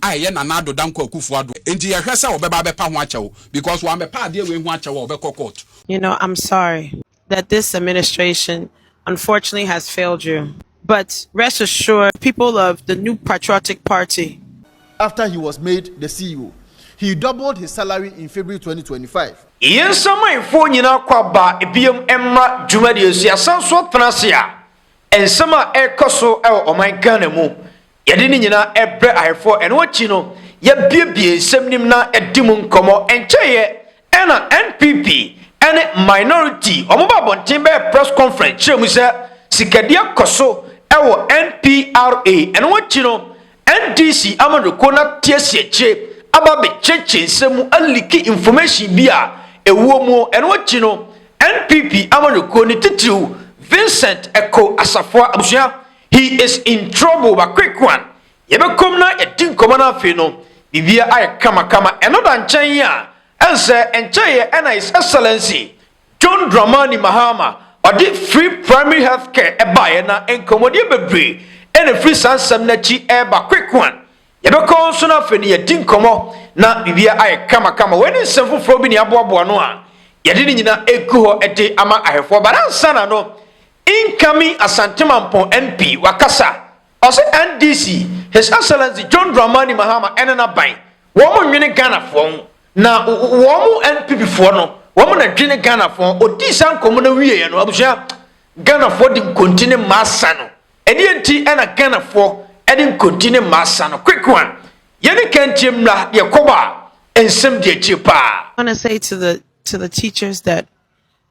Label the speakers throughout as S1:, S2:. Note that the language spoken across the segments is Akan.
S1: a ɛyɛ Nana Addo Dankwa Akuffo Addo a enti yɛhwɛ sɛ ɔbɛba abɛpa ho akyɛw because wammɛpa adeɛ wei ho akyɛw a ɔbɛkɔ court. You know I'm sorry
S2: that this administration unfortunately has failed you but rest assured people of the Nup Patriotic Party. After he was
S3: made the CEO, he doubled his salary in February twenty twenty five. Yɛn nsamanfoɔ
S4: nyinaa kɔ aba biom mmra dwumadie so yɛasan so atena ase a nsɛm a ɛrekɔ so wɔ ɔman Ghana mu Yɛde ne nyinaa brɛ Ahefoɔ. Ɛno akyi no, yɛabuebue nsɛm nim na yɛadi mu nkɔmmɔ. Ɛnkyɛeɛ ara na NPP ne Minority wɔn baa abɔnten bɛyɛɛ press conference kyerɛɛ mu sɛ sikadua kɔ so wɔ NPRA. Ɛno akyi no, NDC amanyɔkuo no ate asi akyire aba abɛkyiakyia nsɛm mu aliki information bi a ɛwɔ mu. Ɛno akyi no, NPP amanyɔkuo no titiriw Vincent Ekow Asafoa abusua, He is in trouble ba quick one yɛbɛkɔm na yɛdi nkɔmɔ na afei no biribia ayɛ kama kama ɛno da nkyɛn a ɛnsɛ ɛnkyɛeɛ ɛna his excellency John Dramani Mahama ɔde free primary health care ɛbaeɛ na nkɔmɔdeɛ bebree ɛna ɛfiri saa nsɛm no akyi ɛreba quick one yɛbɛkɔ nso na afei no yɛdi nkɔmɔ na biribia ayɛ kama kama wei ne nsɛm foforɔ bi ne aboaboa no a yɛde ne nyina ɛgu hɔ ɛde ama ahwɛfoɔ but ansa na no Incoming Asante Mampong MP wakasa, ɔse NDC, His Excellency John Dramani Mahama ne n'aban, wɔn nnwene Ghanafoɔ ho, na wɔn NPP foɔ no, wɔn na dwene Ghanafoɔ ho. Ɔdii saa nkɔmmɔ no wieɛ no, abusua, Ghanafoɔ de nkonti ne mmaa sa no. Ɛdeɛ nti na Ghanafoɔ de nkonti ne mmaa sa no? Quick one, yɛne ka ntie mmra deɛ kɔba a nsɛm di akyire paa. I want to say to
S2: the to the teachers that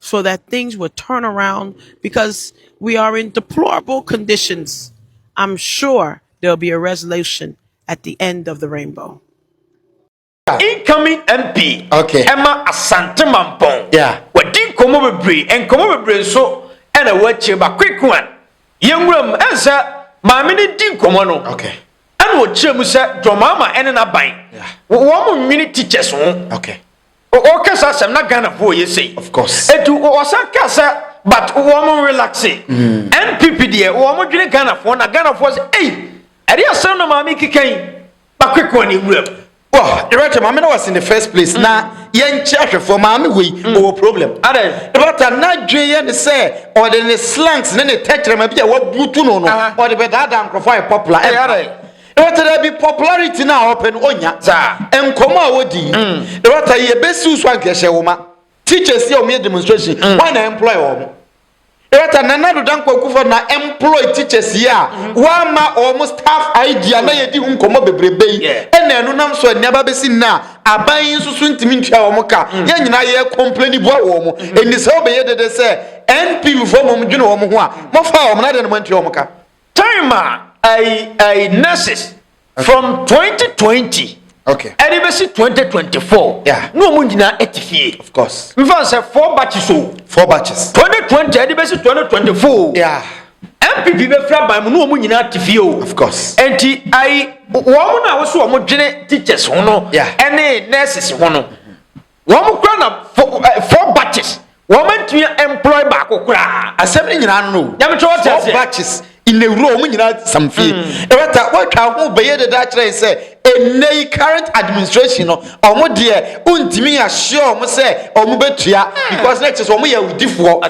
S2: so that things would turn around because we are in deplorable conditions. I'm sure there'll be a resolution at the end of the rainbow.
S4: Incoming MP okay. Emma
S3: Asante
S4: Mampong. Yeah. Wadi
S3: nkɔmɔ
S4: bebree, nkɔmɔ bebree nso ɛna wɔakyerɛ ba quick one. Yɛn nwura mu ɛnsɛ maame ne di nkɔmɔ no. Okay. Ɛna
S3: wɔkyerɛ mu
S4: sɛ dɔmaama ɛne n'aban. Yeah. Wɔn
S3: nwene
S4: teachers ho. Okay.
S3: Ɔka saa asɛm
S4: na Ghana fo yɛ sei. Of course. Etu
S3: ɔsan ka
S4: sɛ but wɔn relaxe. NPP hmm. deɛ wɔn dwene Ghana fo na Ghana fo sɛ ei ɛde asɛm na maame keka yi bakwekɔ ne nwura mu. Wɔ dɛbɛtɛ
S3: maame na wɔsi in the first place na hmm. yɛn kyɛ ahwɛfoɔ maame wɔ yi hmm. ɔwɔ problem. Adɛ. Dɛbɛtɛ
S4: n'adwene
S3: yɛ ne sɛ ɔde ne slangs ne ne tɛkyerɛma bi a wabutu no no ɔde bɛ daadaa nkorɔfoɔ a yɛ popular. Ɛyɛ adɛ. Ewata dɛ bi popularity no a ɔpɛ no onnya. Dza nkɔmbɔ a wodii no, ewata yi ebesiw so a nka ehyɛ nwoma. Teachers yi a wɔyɛ demonstration, woana na employ hɔn? Ewata Nana Addo Dankwa Kufuor na employ teachers yi a wɔama hɔn staff ID a nna yedzi ho nkɔmbɔ beberebe yi na enunam so ndɛ aba abesi ndɛ a aban yi so so nntumi nntua hɔn ka. Hɛn nyina yɛ complaini bua wɔ hɔn ho. Ndɛ sɛ ɔbɛyɛ dede sɛ NPP foɔ mbom dwen hɔn ho a, mɔfaa hɔn na adɛn na moanntua hɔn ka? Time a
S4: ɛyi ɛyi nurses from twenty twenty. Okay. Ɛde bɛ
S3: si twenty
S4: twenty four. Yeah. N'o mu nyinaa
S3: ɛte
S4: fie. Of course. N fa sɛ
S3: four
S4: batches o. Four
S3: batches.
S4: Twenty twenty
S3: ɛde
S4: bɛ si twenty twenty four. Yeah. NPP bɛ fira ban mu n'o mu nyinaa te fie o. Of course. Nti
S3: ayi
S4: wɔn na wɔso wɔn dwene teachers ho no. Yeah. Ɛne nurses ho no. Wɔn kora na four batches wɔn antumi employ baako koraa. Asɛm ne nyinaa no.
S3: Nyamekyerɛ wɔte aseɛ. Four batches nnawuro wɔn nyinaa sam fie. Ɛbɛta wɔatwa ho bɛyɛ dada akyerɛ sɛ ɛnɛ yi current administration no wɔn deɛ ntumi ahyɛ wɔn sɛ wɔn bɛtua because na ɛkyɛ sɛ wɔn yɛ awudifoɔ.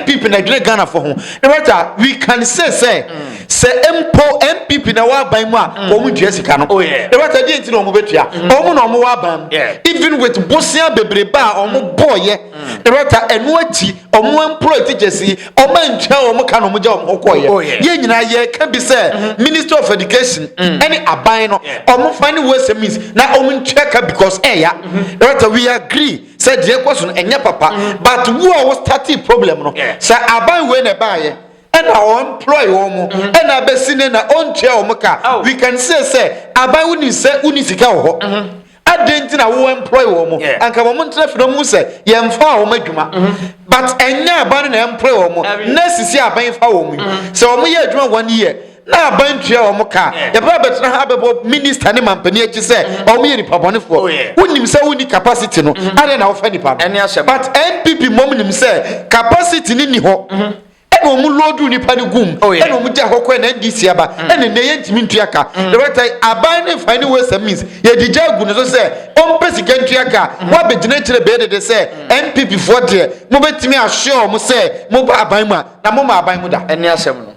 S3: NPP na ɛdwene Ghanafoɔ ho. Ɛbɛta we can say sɛ. sɛ mpo npp na ɛwɔ aban mu a mm. wɔn ntua sika no oh, ɛwɔ sɛ deɛ nti na wɔn bɛtua mm. wɔn na wɔn wɔ aban mu even with bosia bebrebe a wɔn mm. bɔɔyɛ ɛwɔ sɛ ɛno akyi wɔn employ teachers yi wɔn antua wɔn ka na wɔn gya wɔn ho kɔɔyɛ oh, yɛn nyinaa yɛ ka bi sɛ mm-hmm. minister of education ɛne aban no wɔn fa ne ways and means na wɔn ntua ka because ɛya mm-hmm. ɛwɔ sɛ we agree sɛ deɛ ɛkɔ so no ɛnyɛ papa mm-hmm. but wo a wo starting problem no sɛ aban wei na ɛbaayɛ. ɛna ɔmploy wɔn mo mhm. ɛna abɛsi ne na ɔntua wɔn ka oh. we can say sɛ aban wo nim sɛ wo ni sika wɔ hɔ mhm. adɛn nti na wo employ wɔn mo anka wɔn ntena fi na wɔn sɛ yɛn fa wɔn adwuma mhm. but ɛnyɛ aban na employ wɔn mo na sisi aban fa wɔn mu sɛ wɔn yɛ adwuma wɔn yɛ na aban tua wɔn ka yɛbɛ abɛtena ha abɛbɔ minista ne mampanin akyi sɛ wɔn yɛ nipa bɔnefoɔ oh, wonim sɛ wonni capacity no adɛn na wɔfa nipa no but npp mom nim sɛ capacity ne ni hɔ. ɛna wɔn loodu nipa no gum oh, ɛna wɔn gya hɔ kɔɛ na ndc aba mm. ɛna nnɛ yɛn ntumi ntua ka ɛwɛta mm. aban ne nfa ne wɛsɛ means yɛde gya agu ne so sɛ ɔmpɛ sika ntua ka mm. wabɛgyina kyerɛ bɛyɛ dede sɛ npp foɔ deɛ mobɛtumi ahyɛ wɔn sɛ moba aban mu a na moma aban mu da ɛne asɛm no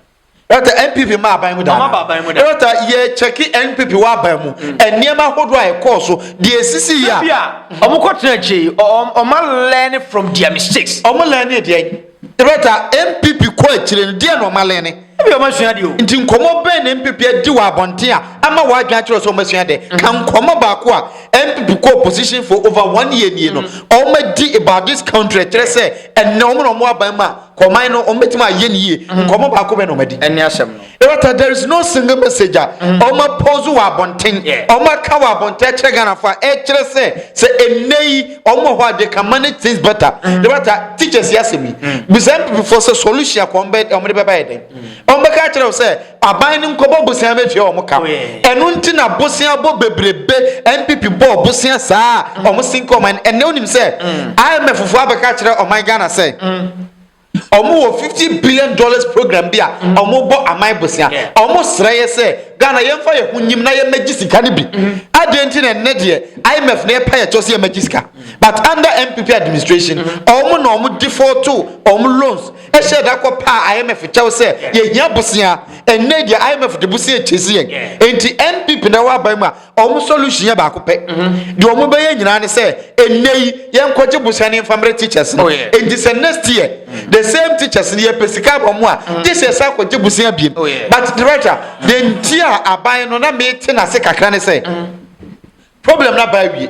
S4: ɛwɛta npp
S3: ma aban mu da ɛwɛta yɛ kyɛke npp wɔ aban mu nneɛma ahodoɔ a ɛkɔɔ so deɛ esisi yɛ a wɔn kɔ tena
S4: akyire yi wɔn learn from their mistakes wɔn learn deɛ
S3: Berta, NPP, kɔ akyire no, deɛn na wɔalen ne? Ebia wɔasua deɛ o.
S4: Nti nkɔmmɔ bɛn na
S3: NPP adi wɔ abɔnten a ama w'adwene akyerɛ wo sɛ wɔasua dɛ? Ka nkɔmmɔ baako a NPP kɔ opposition for over one year nie no a wɔadi about this country a ɛkyerɛ sɛ ɛnnɛ wɔn na wɔwɔ aban mu a kɔ ɔman no wɔbɛtumi ayɛ no yie. Nkɔmmɔ baako bɛn na wɔadi? Ɛne asɛm no. Ebata
S4: there is no
S3: single message a wɔn apose wɔ abɔnten, wɔn aka wɔ abɔnten akyerɛ Ghanafo a ɛkyerɛ sɛ sɛ ɛnnɛ yi wɔn wɔ hɔ a they can manage things better. Ebata teachers yi asɛm yi, bisa MPPfoɔ sɛ solution a wɔn bɛ wɔn de bɛba yɛ dɛn? Wɔn bɛka akyerɛ wo sɛ aban no nkɔbɔ bosea ma etua wɔn ka. Ɛno nti na bosea bɔ bebrebe MPP bɔɔ bosea saa a wɔn sinke ɔman no. Ɛnnɛ wonim sɛ IMFfoɔ abɛka akyerɛ ɔman Ghana sɛ. Ɔmo wɔ fifty billion dollars program bi a ɔmo bɔ aman bosea. Ɔmo srɛ yɛ sɛ Ghana yɛn fa yɛn ho nyim na yɛn mɛ gye sika no bi. Adeɛ nti na ɛnnɛ deɛ IMF na ɛpa yɛ kyɛw sɛ yɛn mɛ gye sika. But under NPP administration ɔmo na ɔmo defaultoo ɔmo loans ɛhyɛɛ da kɔ paa IMF kyɛw sɛ yɛ hia bosea. Ɛnnɛ yi deɛ IMF de bosea kyɛsi yɛn. Ɛnti NPP na ɛwɔ aban mu a wɔn solution yɛ baako pɛ mhm. deɛ wɔn bɛyɛ nyinaa ne sɛ ɛnɛ yi yɛn kɔgye bosia ne nfamrɛ teachers no oh, nti sɛ next year mm. the same teachers no yɛpɛ sika ama mu a gye sɛ ɛsɛ akɔgye bosia biem oh, but director deɛ nti a aban no na mete n'ase kakra ne sɛ mm. problem no aba awie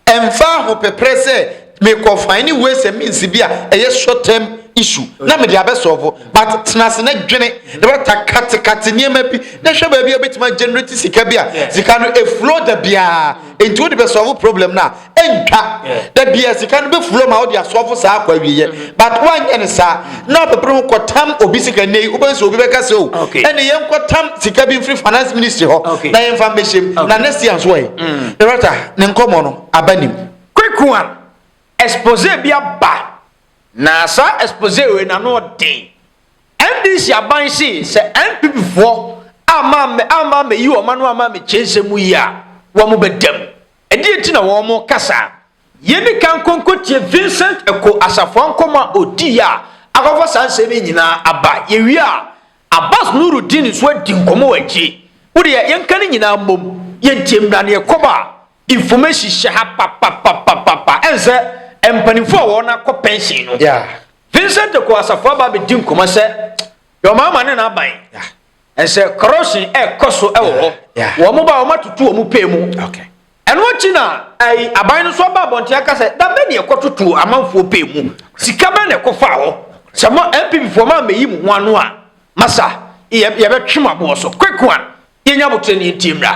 S3: ɛmfa ahopeprɛ sɛ Me kɔ finding ways and means bi a ɛyɛ short term issue na me de abɛ solve but tena ase na dwene na bɛta kate kate nneɛma bi na hwɛ baabi a wobɛtumi a generate sika bi a sika no e flow da biara enti wode bɛ solve problem no a ɛntwa da biara sika no bɛ flow ma wode a solve saa akɔ awieɛ but woanyɛ ne saa na wobɛpere ho kɔ tam obi sika nnɛ yi wobɛhu sɛ obi bɛka sɛ o ɛne yɛnkɔ tam sika bi mfiri finance ministry hɔ na yɛmfa mbɛhyɛm na next year nso ɛ na bɛta ne nkɔmmɔ no aba nim Kweku a,
S4: exposé bi aba na saa exposé wei n'ano ɔden. NDC aban se sɛ NPP foɔ amma amma ammɛyi wɔn ano amma ammɛkyɛ nsɛm mu yi a, wɔn bɛda mu. Ɛdeɛ nti na wɔn reka saa? Yɛnni kan nkɔ nkɔtie Vincent Ekow Asafoa nkɔmmɔ a ɔdiiɛ a akɔfa saa nsɛm yi nyinaa aba. Yɛwie a, Abbas Nurudeen nso adi nkɔmmɔ wɔ akyire. Wo deɛ yɛnka ne nyinaa mmom, yɛntie mmra neɛ ɛkɔba a. Information hyɛ ha papapapapa. Ɛn sɛ mpanimfoɔ a wɔn akɔ pension no. Yeah. Vincent Eko Asafo aba abɛdi nkɔmɔ sɛ deɛ wɔn ama ne n'aban. Yeah. Ɛn sɛ corruption ɛkɔ so ɛwɔ hɔ. Yeah. Wɔn ba wɔn atutu wɔn pay mu. Okay. ɛno akyi na ɛyi aban no nso aba abɔnten aka sɛ dabe ne ɛkɔtoto amanfoɔ pay mu sika bɛ na ɛkɔfa hɔ sɛ mo npp foɔ ma mɛyi mo ho ano a masa yɛbɛtwe mo aboɔ so quick one yɛnya abotire ne yɛntie mmra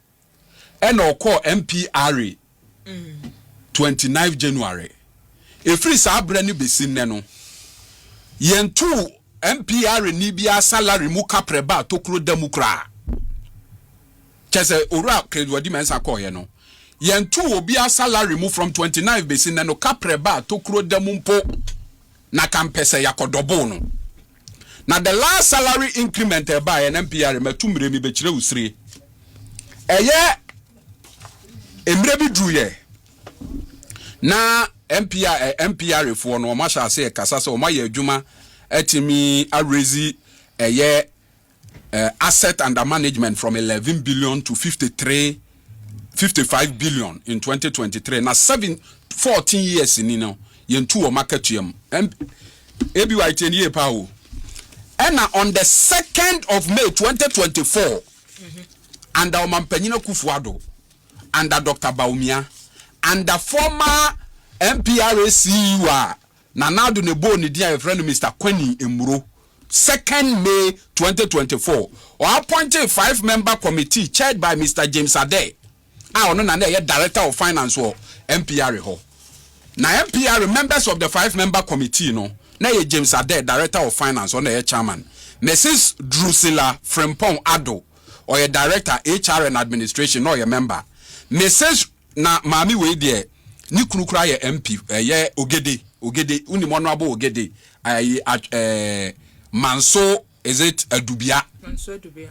S1: Ɛna ɔkɔɔ MPRA 29 January. Ɛfiri saa berɛ no bɛsi nnɛ no, yɛntoo MPRA ni biara salary mu kaprɛ baa tokuro da mu koraa. Kyɛ sɛ Owura Craig Wadi Mensah kɔɔeɛ no, yɛntoo obiara salary mu from 29 bɛsi nnɛ no kaprɛ baa tokuro da mu mpo. Na ka mpɛ sɛ yɛakɔdɔboo no. Na the last salary increment a ɛbaeɛ na MPR matu mmerɛ mi bɛkyerɛ wo sire. Ɛyɛ mmerɛ bi duruiɛ na MPR eh, MPR foɔ no wɔn ahyɛ aseɛ kasa sɛ wɔn ayɛ adwuma atumi awurezi ɛyɛ assets under management from eleven billion to fifty three fifty five billion in twenty twenty three na seven fourteen years ni no yɛn tu wɔn akatua mu ebi wa etie ne yie paa o ɛna on the second of may twenty twenty four under ɔmampanyin akufo ado under dr baumia under former mpra ceo a. Nana Addo na ɛbɔɔ ne din a yɛfrɛ no Mister Kwani Mmuro. Second May twenty twenty four, ɔappointee five member committee chaired by Mister James Adeh a ɔno na na ɛyɛ Director of Finance wɔ MPRE hɔ. Na MPRE members of the five member committee no, na ɛyɛ James Adeh, Director of Finance, ɔno na ɛyɛ Chairman, Mrs. Drusilla Frimpong Addo, ɔyɛ Director, HR and Administration, na ɔyɛ member, Mrs. na maame wei deɛ ne kunu koraa yɛ MP ɛyɛ Ogede Ogede wonim ɔno abo Ogede ayi ɛɛ Manso is it Adubia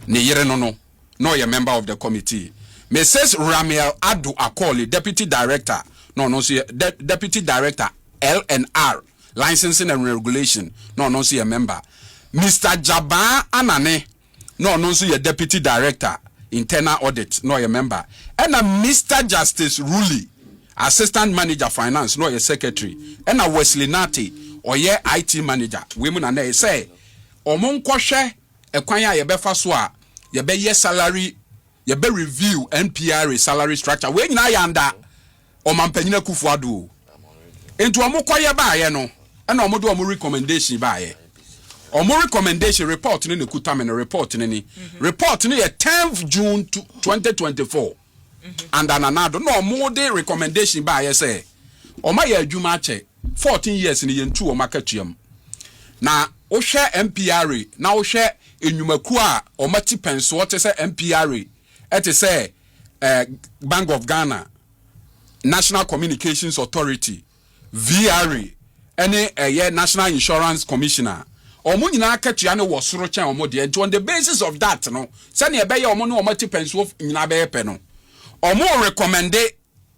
S1: ne yere no no na ɔyɛ member of the committee Mrs Ramiel Ado Akɔli deputy director na ɔno nso yɛ deputy director LNR licensing and regulation na ɔno nso yɛ member Mr Jabaa Anane. na ɔno nso yɛ Deputy Director, Internal Audit, na ɔyɛ mɛmba, ɛnna Mister Justice Ruley, Assistant Manager, Finance, na ɔyɛ Secretary, ɛnna Wesley Nartey, ɔyɛ IT Manager. Wei mu na na ɛyɛ sɛ wɔnkɔhwɛ kwan a yɛbɛfa so a yɛbɛyɛ salary, yɛbɛ-review NPRA salary structure. Wei nyinaa yɛ andaa. Ɔmanpanyin Akuffo Addo o. Nti wɔn kɔyɛ baayɛ no ɛna wɔn de wɔn recommendation baayɛ. Wɔn recommendation report no na ɛkuta me no report no ni. Report no yɛ tenth June twenty twenty four under Nana Addo na wɔn de recommendation baayɛ sɛ wɔn ayɛ adwuma akyɛ fourteen years no yɛn tu wɔn akatua mu. Na wohwɛ MPRA na wohwɛ nnwumakuo a wɔn ati pɛn soɔ te sɛ MPRA. te sɛ Bank of Ghana, National Communications Authority, VRA, ne ɛyɛ National Insurance Commissioner. Wɔn nyinaa akatua no wɔ soro kyɛn wɔn deɛ. Nti on the basis of that no, sɛdeɛ ɛbɛyɛ wɔn ne wɔn atipɛnsoɔ nyinaa bɛyɛ pɛ no, wɔn recommende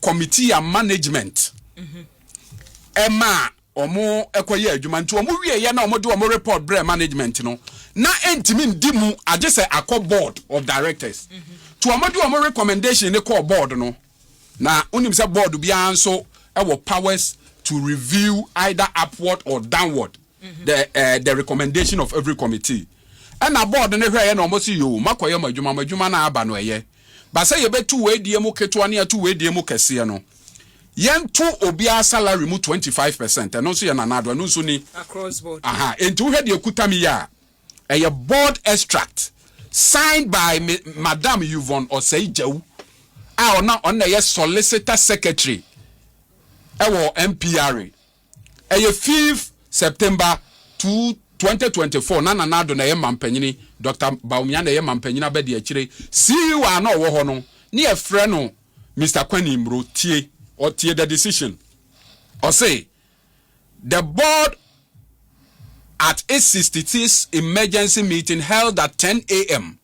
S1: committee a management ɛma a wɔn kɔyɛ adwuma nti wɔn wie yɛ na wɔn de wɔn report brɛ management no na ntumi ndi mu agye sɛ akɔ board of directors to wɔn de wɔn recommendation ne kɔɔ board no na wonim sɛ board biara nso ɛwɔ powers to review either upward or downward mm-hmm. the uh, the recommendation of every committee ɛna board no hwɛ yɛ na wɔn si yoo makɔyɛ mo adwuma mo adwuma na aba no ɛyɛ Ba sɛ yɛbɛtu wei deɛ mu ketewa ne atu wei deɛ mu kɛseɛ no, yɛnto obiara salary mu twenty five percent, ɛno nso yɛ Nana Addo, ɛno nso ni. Across board. Aha,
S5: enti wohwɛ deɛ ɛkuta
S1: me yi a, ɛyɛ board extract, signed by me Madam Yvonne Osei Gyau, a ɔno ɔno na ɛyɛ Solicitor Secretary ɛwɔ MPRA. Ɛyɛ fifth September two twenty twenty four na Nana Addo na ɛyɛ mampanyini, Doctor Bawumia na ɛyɛ mampanyini abadiakyire. CEO a na ɔwɔ hɔ no, ne yɛfrɛ no Mister Kwani Mmuro. Tie, ɔtie the decision. Ɔse, The board at its sixty sixth emergency meeting held at ten AM,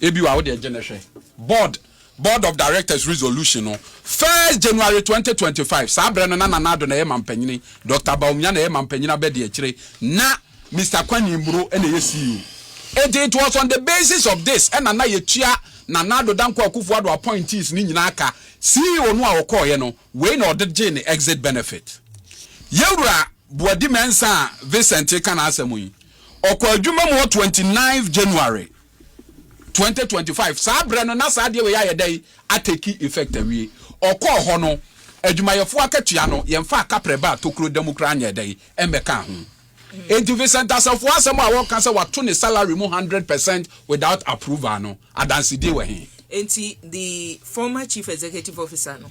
S1: Ebi wɔ a, wo deɛ gye no hwɛ. Board, Board of Directors Resolution no, first January 2025, saa berɛ no na Nana Addo na ɛyɛ Mampanyini, Doctor Bawumia na ɛyɛ Mampanyini Abadiakyire, na Mister Kwani Mburo na ɛyɛ CEO. Enti it was on the basis of this ɛna na yɛtua Nana Addo Dankwa Akufo-Addo appointees no nyinaa ka, CEO no a ɔkɔeɛ no, wei na ɔde gyee ne exit benefit. Yɛn Wura Boadi-Mensah Vincent reka n'asɛm yi, Ɔkɔɔ adwuma mu wɔ twenty ninth January twenty twenty five. Saa berɛ no, na saa adeɛ wei ayɛ dɛn atake effect awie. Ɔkɔɔ hɔ no, adwumayɛfoɔ akatua no, yɛmfaa kaprɛ baa tokuro da mu koraa nyɛɛ dɛn mmɛkaa ho. Enti Vincent Asafo asɛm a ɔka sɛ wɔato ne salary mu hundred percent without approval no, adansedie wɔ he? Enti the
S5: former Chief Executive Officer no.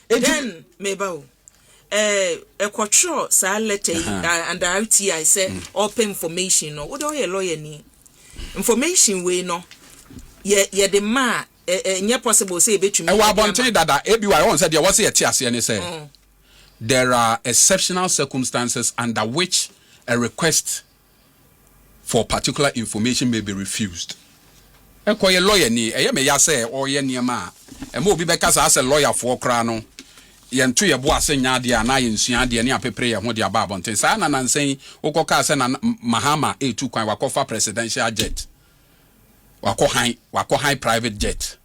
S5: Dɛn, meba o. Eh, ɛkɔtwerɛ saa letter yi uh, under RTI sɛ mm. ɔpɛ information no, wode ɔyɛ lawyer ni. Information wei no, yɛ yɛde ma a, ɛnyɛ possible sɛ yɛbɛtumi. Ɛwɔ abɔnten dada,
S1: ebi wa ɛwɔ sɛ deɛ wɔsɛ yɛte aseɛ ne sɛ, mm. there are exceptional circumstances under which a request for particular information may be refused. Ɛkɔyɛ lɔyani, ɛyɛ me ya sɛ ɔreyɛ nneɛma a ɛma obi bɛka saa sɛ lɔyafoɔ koraa no, yɛnto yɛn bo ase nyɛ adeɛ anaa yɛnsua adeɛ ne apepere yɛn ho de aba abɔnten. Saa ara na nansa yi wokɔkaa sɛ Nana Mahama retu kwan, wakɔfa presidential jet, wakɔ han, wakɔ han private jet.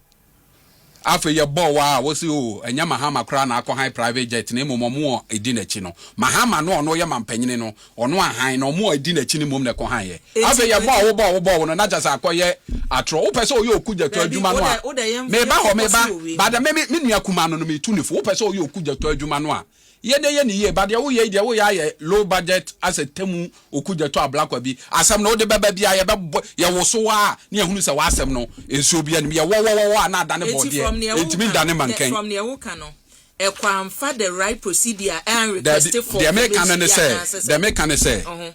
S1: Afei yɛbɔɔ waa a wɔse oo ɛnyɛ Mahama koraa na akɔ han private jet na mmom ɔmo a ɛdi n'akyi no. Mahama no a ɔno ɔyɛ mampanyini no ɔno anhan na ɔmo a ɛdi n'akyi no mmom na ɛkɔ han yɛ. Afei yɛbɔɔ a wobɔɔ wobɔɔ wo no na kyɛsɛ akɔyɛ atorɔ. Wopɛ sɛ ɔyɛ okugyatɔ adwuma no a meba hɔ meba but me me nua kumaa no no metu ne fo. Wopɛ sɛ ɔyɛ okugyatɔ adwuma no a Yɛ dɛ yɛ no yie but deɛ woyɛ yi deɛ woyɛ ayɛ low budget asɛ temu oku gya tu ablakwa bi asɛm no wode bɛba biaa yɛ bɛbɔ yɛ woso aa ne yɛhunu sɛ w'asɛm no nsuo bia nim yɛ wɔwɔwɔwɔ a na adane bɔɔdeɛ ɛntumi ndane mankɛn. From neɛ woka
S5: no ɛkɔ amfa the right procedure aa request for community anaasɛ sɛ.
S1: Daabi deɛ meka no ne sɛ deɛ meka ne sɛ.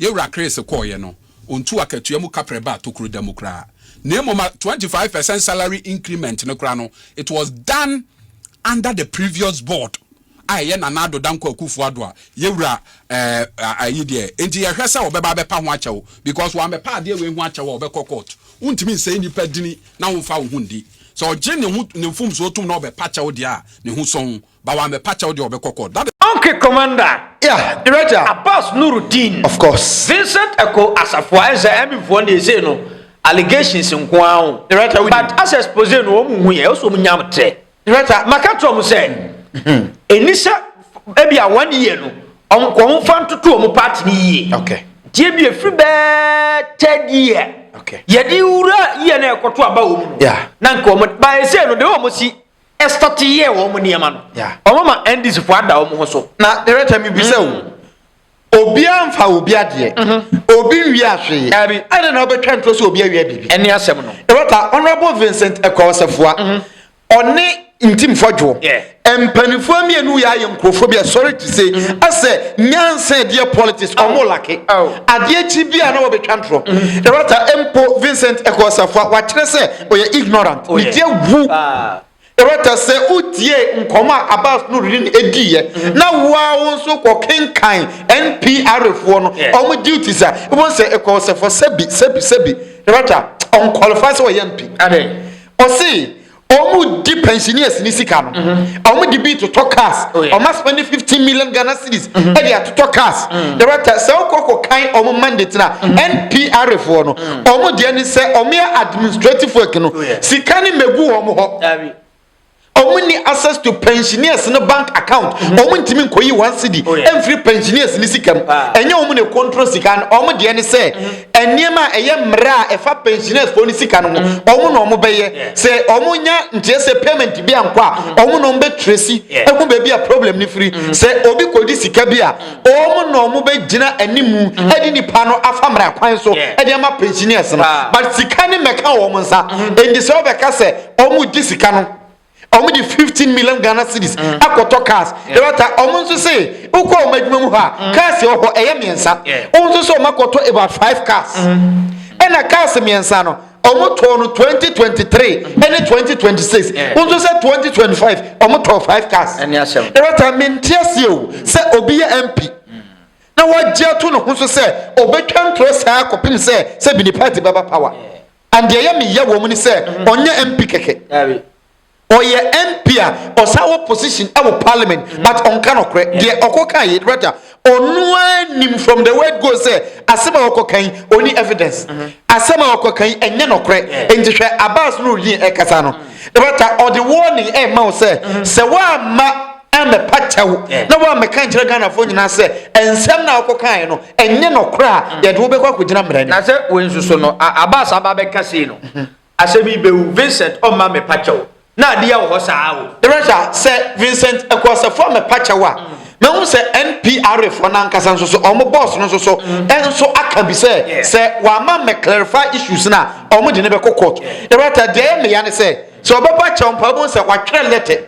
S1: Yɛ wura Chris kɔɔeɛ no, ɔntuu akatua mu kaprɛ baa tokuro da mu koraa. Na mmom a twenty five percent salary increment no koraa no, it was done under the previous board a ɛyɛ Nana Addo Dankwa Akufo Addo a yɛ wura eh, ayi deɛ. Enti yɛhwɛ sɛ ɔbɛba abɛpa ho akyɛw because wammɛpa adeɛ wei ho akyɛw a ɔbɛkɔ court. Wontumi nsɛe nnipa dini na womfa wo ho ndi. Sɛ ɔgye ne ho ne mfomsoɔ tom na ɔbɛpa kyɛw deɛ a, ne ho sɔn. but wammɛpa kyɛw deɛ ɔbɛkɔ court that is. Onke commander.
S4: Yeah director.
S3: Abbas Nurudeen.
S4: Of course.
S3: Vincent Eko
S4: Asafoa ɛnsɛ Emmy foɔ deɛ sei no allegations nko ara o. Director wo nim. But as
S3: expose
S4: no wɔn hu yɛ ɛwɔ sɛ wɔn nya trɛ. Director ma ka
S3: kyerɛ wɔn sɛ
S4: ɛni sɛ ebi a one year no wɔn kɔ wɔn fa ntoto wɔn party no yie. Okay. Nti ebi
S3: efiri
S4: bɛɛ third year. Okay. Yɛde
S3: wura
S4: year na ɛkɔto aba wɔn mu. Yeah. Na nka wɔn
S3: ba ɛsɛ
S4: no de wɔn si. start yɛɛ wɔn nneɛma no wɔn ma ndc
S3: fo
S4: ada wɔn ho so. na director mi bisa
S3: o mm-hmm. obi anfa obi adeɛ mm-hmm. obi nwi ahwee ɛna na ɔbɛtwa ntorɔ sɛ obi awia biribi. ɛne asɛm no. director
S4: honourable
S3: vincent ɛkɔɔsɛfoa mm-hmm. ɔne ntimfoɔ dwoɔ mpanimfoɔ mmienu yɛ ayɛ nkurɔfoɔ bi ɛsɔre ti se ɛsɛ mm-hmm. nyansa ɛdeɛ politics ɔmo oh. lake oh. adeɛ kyi bi a na wɔbɛtwa ntorɔ ɛrɛta mm-hmm. mpo vincent ɛkɔsafoa wakyerɛ sɛ ɔyɛ ignorant ne deɛ wu ɛwɛtɛ sɛ wotie nkɔmɔ a abas no redi ɛdiiɛ mm. na woa wo nso kɔ kenkan npr foɔ no ɔmo duties a wobɛhu sɛ ɛkɔɔ sɛ fɔ sɛbi sɛbi sɛbi ɛwɛta ɔnqualify sɛ ɔyɛ mpi ɔse ɔmo di pensioners ne sika no mm-hmm. ɔmo de bi totɔ cars oh, ɔmo asoma ne fifteen million ghana cedis mm-hmm. ɛde atotɔ cars ɛwɛta mm. sɛ wokɔ kɔ kan ɔmo mandate na mm-hmm. npr foɔ no wɔn deɛ ne sɛ wɔn yɛ administrative work no sika ne megu wɔn hɔ wɔn ni access to pensioners no bank account wɔn mm-hmm. ntumi nkɔyi wɔn asidi oh, mfiri pensioners ne sika mu ah. ɛnyɛ wɔn ne control sika no wɔn deɛ ne sɛ mm-hmm. nneɛma a ɛyɛ mmerɛ a ɛfa pensioners fo ne sika no ho mm-hmm. wɔn na wɔn bɛyɛ sɛ wɔn nya nteɛ sɛ payment bi ankɔ a wɔn na wɔn bɛ tracy ɛho baabi a problem ne firi sɛ obi kɔdi sika bi a Wɔn na wɔn bɛ gyina animu mm-hmm. ɛde nipa no afa mmerɛ kwan so ɛde ama pensioners no ah. but sika ne mɛka wɔn nsa ɛnti mm-hmm. sɛ wɔbɛka sɛ wɔn gye sika no wɔn de fifteen million ghana cedis mm-hmm. akɔtɔ cars ɛbɛta wɔn nso se wokɔ wɔn adwuma mu hɔ a cars wɔ hɔ ɛyɛ mmiɛnsa wɔn nso sɛ wɔn akɔtɔ about five cars ɛna cars mmiɛnsa no. ɔmo tɔɔ no twenty twenty three ɛne twenty twenty six wọn nso sɛ twenty twenty five ɔmo tɔɔ five cars ɛne ahyɛm ɛrɛta mi
S4: nti aseɛ
S3: o sɛ obi yɛ mp mm. na wagye ato ne ho so sɛ ɔbɛtwa ntorɔ saa kɔpem sɛ sɛ bi ne party bɛba power and deɛ yɛ meyɛ wɔn ni sɛ mm-hmm. ɔnyɛ mp kɛkɛ Ɔyɛ MP a ɔsan wɔ position ɛwɔ parliament mm-hmm. but ɔnka nɔkorɛ deɛ ɔkɔ kan yɛ rather ɔnoa nim from the word go sɛ asɛm a ɔkɔ kan ɔni evidence mm-hmm. asɛm a ɔkɔ kan ɛnyɛ nɔkorɛ nti hwɛ abas no ɔdin ɛkasa no mm-hmm. rather ɔde warning ɛma wo sɛ sɛ woamma ɛmɛpa kyɛw na woamɛka nkyerɛ ghanafoɔ nyinaa sɛ ɛnsɛm na ɔkɔ kan no ɛnyɛ nɔkorɛ a yɛde wobɛkɔ akɔgyina mmerɛ no na sɛ wɔnsuso no
S4: abas aba bɛka sei no Asɛm yi bɛwu. Vincent, O mma mepa kyɛw, na ade yɛ wo hɔ saa o. Teresa, Sɛ
S3: Vincent Akuasafo a mepa kyɛw a, mahu sɛ NPRA foɔ no ankasa nso so, wɔn boss no nso so nso aka bi sɛ, sɛ wamma me clarify issues no a, wɔn de no bɛkɔ court. Teresa, Deɛ ɛyɛ me ya ne sɛ, sɛ ɔbɛpa kyɛw mpo a, wobɛhu sɛ watwerɛ letter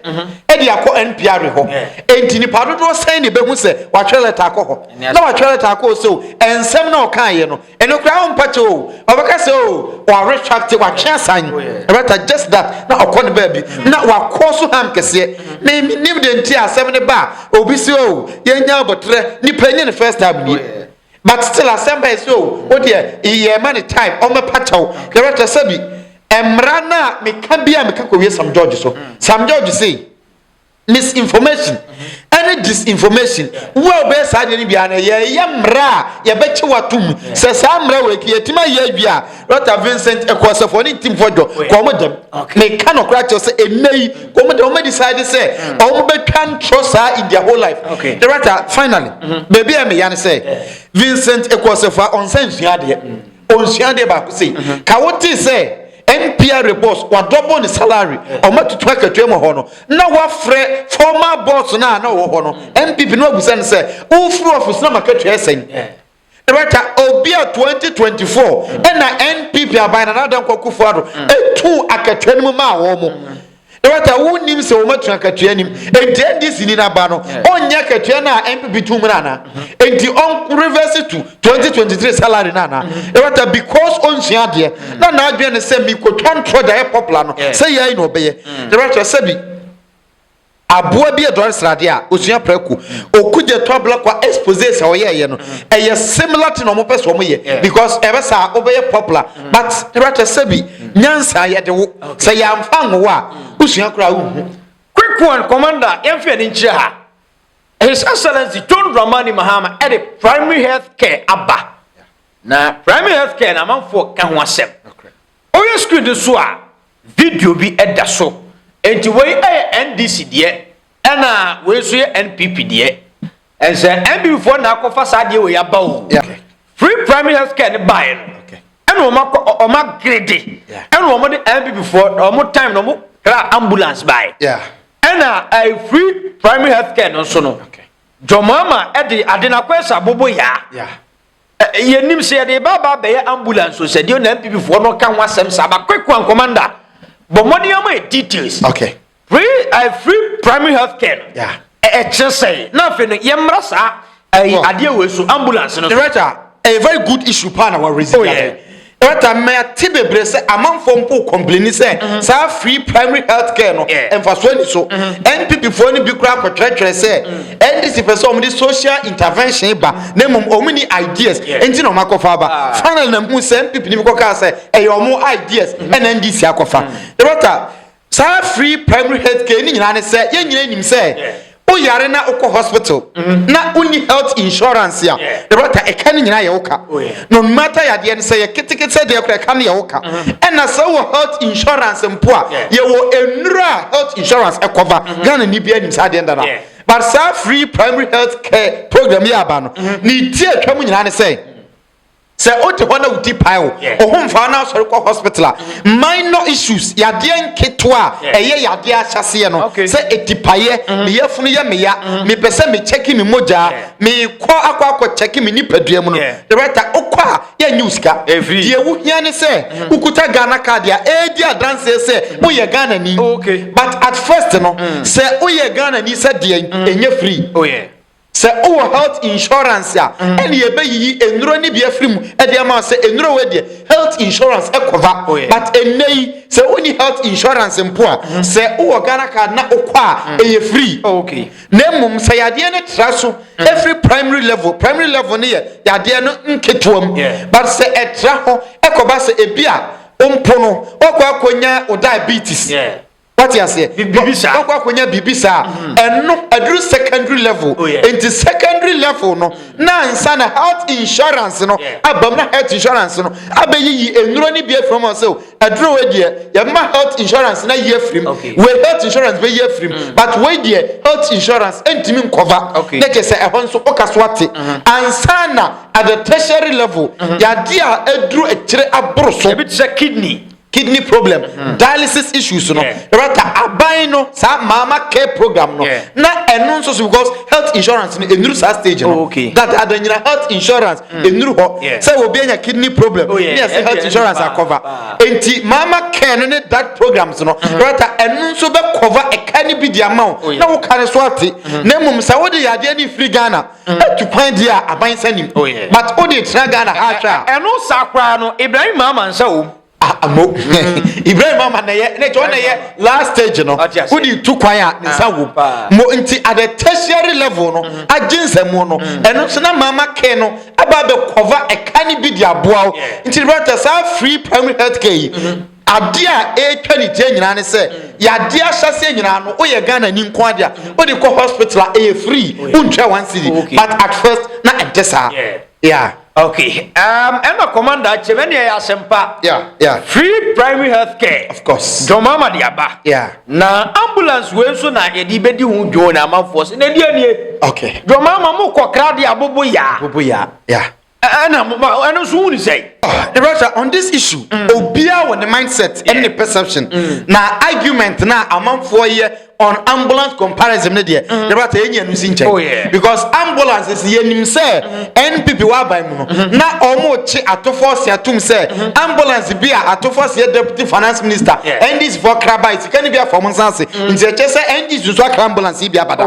S3: de akɔ NPRA hɔ. Enti nnipa dodoɔ sɛn na ɛbɛhu sɛ watwerɛ letter akɔ hɔ? Na watwerɛ letter akɔ hɔ sɛ o, nsɛm no a ɔkaeɛ no, ɛno koraa ɔmpɛte o ɔbɛka sɛ o ɔaretracte watwe asan ɛbɛta oh, just that na ɔkɔ ne baabi na wakɔ so ham kɛseɛ na nim deɛ nti asɛm no ba a obi sɛ o yɛnya abɔterɛ nipa nyɛ ne first time nie oh, but still asɛm bɛyɛ sɛ o wodeɛ yɛ ma ne time ɔmɛpa kyɛw na ɛbɛta sɛ bi mmara no a meka bi a meka kɔwie sam george so hmm. sam george sei misinformation ɛne disinformation wo a wobɛyɛ saa deɛ no biara no yɛyɛ mmerɛ a yɛbɛkye watom sɛ saa mmerɛ wɔ ɛti yɛtumi ayɛ awie a rɔta vincent ɛkɔɔsɛfoɔ ne ntimfoɔ dɔ kɔ ɔmo dɛm meka nɔkora kyɛw sɛ ɛnɛ yi kɔ ɔmo dɛm ɔmo decide sɛ ɔmo bɛtwa ntorɔ saa in their whole life rɔta finally baabi a meya no sɛ vincent ɛkɔɔsɛfoɔ a ɔnsa nsua adeɛ ɔnsua adeɛ baako sei mhm. ka wotee sɛ npra boss wadɔbɔ ne salary ɔma tutu akatua mu hɔ no na wafrɛ former boss no a na ɔwɔ hɔ no npp no abusa no sɛ wofiri office na makatua sɛn rɛta obi a 2024 ɛna npp aban na nada nkɔkofo ado ɛtu akatua no mu maa wɔ mo Dɔkta, wonnim sɛ wɔatu akatua nim. Enti NDC ni n'aba no, ɔnyɛ akatua no a NPP tum no ana? Enti ɔn reverse to 2023 salary no ana? Dɔkta, because onsua adeɛ na n'adwene ne sɛ mekɔtwa ntorɔ de ayɛ popular no, sɛ yɛi na ɔbɛyɛ. Dɔkta, sɛbi aboa bi ɛdɔre sradeɛ a, ɔsua prako. Okudze to ablakwa expose sɛ ɔyɛɛyɛ no, ɛyɛ similar thing a wɔpɛ sɛ wɔyɛ because ɛbɛ saa wobɛyɛ popular. but rather sɛbi nyansa yɛde wo sɛ yɛamfa nwowa a wosua koraa wonhu quick one
S4: commander yɛmfa yɛne nkyerɛ ha his excellency john dramani mahama ɛde primary health care aba na primary health care na amanfoɔ ka ho asɛm ɔyɛ screen no so a video bi ɛda so enti wei ɛyɛ ndc deɛ ɛna wei nso yɛ npp deɛ Ɛnsɛ NW foɔ na akɔfa saa adeɛ wei aba o. Free primary health care no baeɛ no. Ɛna wɔn akɔ wɔn agrede. Ɛna wɔn de NW foɔ na wɔn time na wɔn kra ambulance baeɛ. Ɛna ɛɛ eh, free primary health care no nso no. Jɔn ama ɛde ade na akɔ ɛsɛ abobo yaa. Yɛnim sɛ yɛde ba ba bɛyɛ ambulance o sɛ deɛ na NW foɔ no ka ho asɛm saa ba quick one commander. Bɔ mmɔden ama yɛ details. Okay. free uh, free primary health care no yeah. ɛkyerɛ sɛ na afei no yɛmmra saa ayi eh, adeɛ wɔ so ambulance no so. director a eh, very
S3: good issue paa na wɔresi oh, yeah. director mmɛya te bebree sɛ amanfoɔ mpo kɔmpleni sɛ mm-hmm. saa free primary health care no mfasoɔ ni so npp mm-hmm. foɔ no bi kura akɔtwerɛtwerɛ sɛ mm. ndc pɛ sɛ wɔn de social intervention ba na mmom wɔn ni ideas nti na wɔn akɔfa aba ah. finally na mu sɛ npp ni bi kɔ kaa sɛ ɛyɛ wɔn ideas mm-hmm. ɛna ndc akɔfa director. Saa free primary health care no nyinaa ne sɛ yɛn nyinaa nim sɛ wo yare na wokɔ hospital mm-hmm. na wonni health insurance a the rota ɛka no nyinaa yɛ wo ka oh, no matter yadeɛ no sɛ yɛ ketekete sɛ deɛ kora ɛka no yɛ wo ka mm-hmm. ɛna sɛ wowɔ health insurance mpo a yɛwɔ nnuro a health insurance ɛkɔva mm-hmm. ghana ni bia nim saa deɛ nda no but saa free primary health care program yɛ aba no ne ti atwa mu nyinaa ne sɛ Sɛ ode hɔ na wo ti pae wo, wo ho mfa wo na wosɔre kɔ hospital a, minor issues, yadeɛ nketewa a ɛyɛ yadeɛ ahyɛseɛ no, sɛ etipaeɛ, mm-hmm. me yafunu yɛ meya, mm-hmm. mepɛ sɛ mekyɛke me mogya, mekɔ akɔ akɔ kyɛke me nipadua mu no, director, wokɔ a yɛnyi wo sika. Deɛ wohia ne sɛ mm-hmm. wokuta Ghana card a ɛredi adanseɛ sɛ woyɛ Ghanani. But at first no, mm. sɛ woyɛ Ghanani sɛ deɛ ɛnyɛ free. Oh, Sɛ wowɔ health insurance a, ɛne yɛbɛyiyi nnuro no bi afiri mu de ama wo sɛ nnuro wei deɛ health insurance cover. But ɛnnɛ yi, sɛ wonni health insurance mpo a, sɛ wowɔ Ghana card na wokɔ a, ɛyɛ free. Na mmom sɛ yadeɛ no tra so firi primary level, primary level no yɛ yadeɛ no nketewa mu, but sɛ ɛtra hɔ kɔba sɛ ebi a mpo no, woakɔ akɔnya wo diabetes. wate aseɛ wakɔ akɔnya biribi saa mm-hmm. ɛno aduru secondary level oh, nti secondary level no mm-hmm. na nsa na health insurance no abam na health insurance no abɛyiyi nnuro no bi afiri mu sɛ aduro wei deɛ yɛma health insurance na yi afiri mu wei health insurance bɛyi afiri mu mm. but wei deɛ health insurance ntumi nkɔva na kyɛ sɛ ɛhɔ nso woka so ate mm-hmm. ansa na at the
S4: tertiary
S3: level yadeɛ a
S4: aduru
S3: akyire aboro so ebi
S4: te sɛ
S3: kidney kidney problem mm-hmm. dialysis issues no ɛbɛta aban no saa maama care program no na ɛno nso so because health insurance no ɛnuru saa stage no oh, that ada nyina health insurance ɛnuru mm. hɔ sɛ obi anya kidney problem oh, ne ɛsɛ health insurance akɔva enti maama care no ne that programs no mm-hmm. ɛbɛta ɛno nso bɛkɔva ɛka ne bi di ama wo oh, na woka ne so ate mm-hmm. na mmom sɛ wode yadeɛ ne firi ghana Atu kwan deɛ a aban nsa nim oh yeah. But wo deɛ tena Ghana ha hwɛ a. Ɛno saa koraa
S4: no Ibrahim Mahama nsa wɔ mu. Ah mo
S3: Ibrahim Mahama na yɛ na John na yɛ last stage no wo deɛ tu kwan a ne nsa wɔ mu mo nti at the tertiary level no agye nsamu no ɛno nso na Mahama ke no ɛba bɛ cover ɛka ne bi de aboa wo nti brata saa free primary health care yi. Adeɛ a ɛretwa ne tie nyinaa ne sɛ yadeɛ ahyɛseɛ nyinaa no woyɛ Ghana ni nko adeɛ a wode kɔ hospital a ɛyɛ free wontwa one cedi but at first na ɛnte saa yeah. Okay um,
S4: ɛna commander akyɛm ɛne ɛyɛ asɛmpa yeah, yeah. free
S3: primary health
S4: care of course dɔmama
S3: de aba
S4: yeah. na
S3: ambulance
S4: wei nso na yɛde bɛdi ho dwoo na amanfoɔ sɛ na ɛdeɛ nie okay. dɔmama
S3: mokɔ krade
S4: abobo yaa abobo yaa yeah.
S3: ɛna mo ba ɛno
S4: nso wuni sɛ. the russia on this
S3: issue mm. obiara wɔ ne mindset ɛne ne perception mm. na argument na amanfoɔ yɛ on ambulance comparison ne deɛ the russia yɛ nyɛ no si nkyɛn oh, because ambulance si yɛ nim sɛ mm-hmm. npp wa aban mu no mm-hmm. na wɔn kye atofo si atum sɛ mm-hmm. ambulance bi a atofo si yɛ deputy finance minister ndc fɔ kraba sika ne bi afɔ wɔn nsa ase nti ɛkyɛ sɛ ndc nso akra ambulance yi bi abada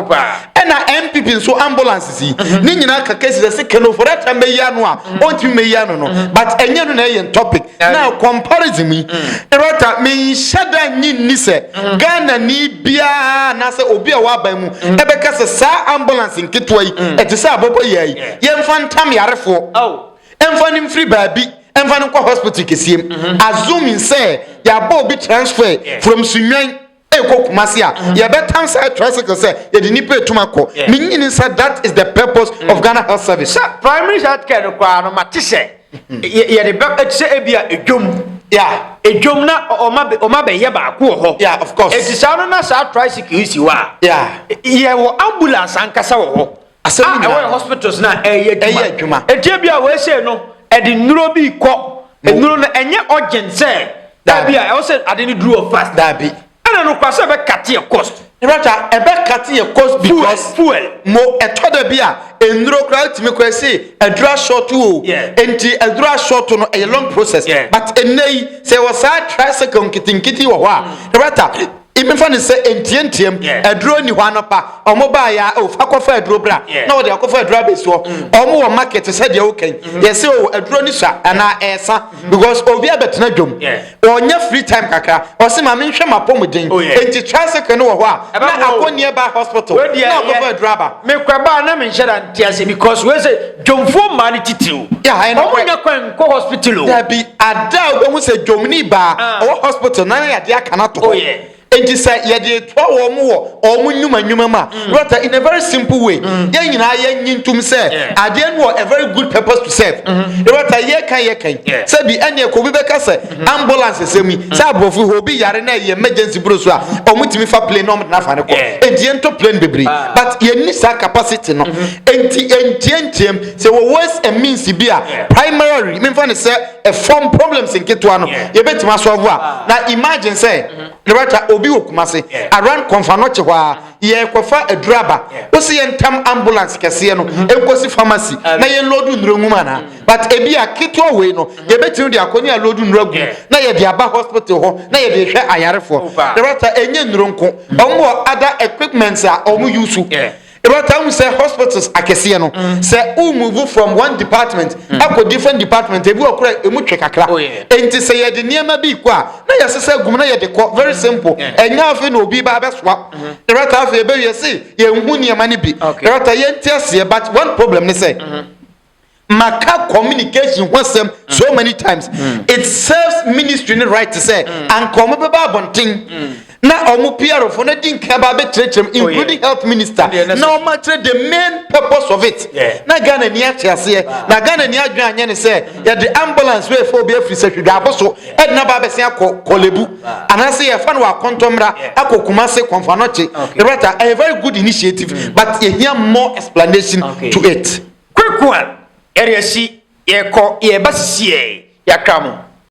S3: ɛna npp nso ambulance. si mhm. ne nyinaa ka kesi sɛ sika no fɔdɛ tɛn bɛyi ano a mhm. ɔntumi bɛyi ano no mhm. but ɛnyɛ no na ɛyɛ topic na comparison mi rɛta mi nhyɛ da nyi ni sɛ ghana ni biara anaasɛ obi a waba mu ɛbɛka sɛ saa ambulance nketewa yi ɛte sɛ abɔbɔ yɛ yi yɛnfa ntam yarefoɔ oh. ɛnfa ne mfiri baabi ɛnfa ne nkɔ hospital keseɛ mu azumi sɛ yɛabɔ obi transfer from sunwan. ɛkɔ kumase a yɛbɛtan saa tricycle sɛ yɛde nipa etum akɔ ne nyini sɛ that is the purpose mm. of ghana health service. sɛ primary health care no
S4: koraa no ma te sɛ yɛde bɛ ɛte sɛ ebi a edwom yeah edwom na ɔma bɛ ɔma bɛ yɛ baako wɔ hɔ yeah of course eti saa no
S3: na saa
S4: tricycle yi si hɔ a yeah yɛ wɔ ambulance ankasa wɔ hɔ. Asɛm a ɛwɔ yɛ hospitals
S3: na
S4: ɛyɛ adwuma. Ɛyɛ adwuma. Eti ebi a wɔasɛ no ɛde nnuro bi kɔ. Nnuro no ɛnyɛ urgent sɛ. Daabi a ɛwɔ sɛ ade no duru wɔ fast. Daabi. Ɛna no
S3: kora sɛ ɛbɛkate
S4: yɛ cost. Rata ɛbɛkate
S3: yɛ cost because. Fuel. Mo
S4: ɛtɔ da
S3: bi a nnuro kora tumi kora se aduro asɔɔto o. Nti aduro asɔɔto no ɛyɛ long process. But ɛnɛ yi sɛ wɔ saa tricycle nketenkete wɔ hɔ a. Rata Yɛmfa no sɛ ntiantiam aduro nni hɔ anɔpa, wɔbaeɛ a, oh, fa kɔfa aduro bra, na wɔde akɔfa aduro abɛsi hɔ. Wɔn wɔ market te sɛ deɛ woka yi, yɛse oh, aduro no sua anaa ɛresa because obi abɛtena dwam, ɔnya free time kakra, ɔse ma menhwɛ m'apɔmuden. Enti tricycle no wɔ hɔ a, na akɔ nearby hospital na akɔfa aduro aba. Mekɔbaa na menhyɛ
S4: da nte aseɛ because wei sɛ Dwomfoɔ mmaa no titiriw, wɔnnya kwan nkɔ hospital o. Dabi, ada
S3: a wobɛhu sɛ dwomni baa ah. ɔwɔ hospital na na yɛde aka no ato hɔ. Oh, yeah. Enti sɛ yɛde toa wɔn wɔ wɔn nnwuma nnwuma mu a, mm. brata, in a very simple way, mm. yɛn nyinaa yɛnyi ntom sɛ adeɛ no wɔ a very good purpose to serve. Mm-hmm. Brata, yɛka yɛka yi, sɛ bi ɛneɛ kɔ obi bɛka sɛ ambulance sɛm yi sɛ aborɔfo hɔ obi yare na ɛyɛ emergency buro so a ɔmotumi fa plane na ɔmde no afa no kɔ enti yɛntɔ plane bebree ah. but yɛnni saa capacity no mhm. enti ɛntiantiam sɛ wɔ ways and means bi a primary memfa ne sɛ ɛfam problems nketewa no yɛbɛtumi asɔvo a ah. na imagine sɛ mhm. ne bɛta obi wɔ kuma se around kɔmfa no kye hɔ a yɛkɔfa aduru aba wo se yɛntam ambulance kɛseɛ no ɛnkɔsi mhm. pharmacy na yɛnlɔdu nnuro nwum anaa but ebi a ketewa wei no yɛbɛtumi de akɔ ne aloodu nnuro agu na yɛde aba hospital hɔ na yɛde hwɛ ayarefoɔ ɛbɛta oh, ɛnyɛ nnuro nko wɔn wɔ other equipments a wɔn use ɛbɛta ahu sɛ hospitals akɛseɛ no mm. sɛ wo move from one department mm. akɔ different department ebi wɔ kora emu twɛ kakra oh, nti sɛ yɛde nneɛma bi kɔ a na yɛsesɛ gum na yɛde kɔ very mm. simple ɛnyɛ afei na obi ba abɛsoa mm-hmm. ɛbɛta afei ɛbɛwie se yɛn hu nneɛma no bi ɛbɛta yɛn ti aseɛ but one problem ne sɛ. Mm-hmm. maka communication ho asɛm so mm. many times mm. it serves ministry ne right sɛ mm. anka ɔmo bɛba abɔnten na ɔmo pr fo na di nka ba abɛkyerɛkyerɛm oh, including health minister na ɔmo akyerɛ the main purpose of it na ghana ni akyɛ aseɛ na ghana ni adwene anyɛ ne sɛ yɛde ambulance wei fo obi afiri sɛ hwedwa abo so ɛde na ba abɛsɛn akɔ kɔlebu anaasɛ yɛfa no wɔ akɔntɔmmra akɔ kumase kɔnfanɔkye ɛbɛta a very good initiative but yɛhia more explanation to it.
S4: Kwaku a yɛde asi yɛkɔ yɛba sisiɛ yɛakra mo.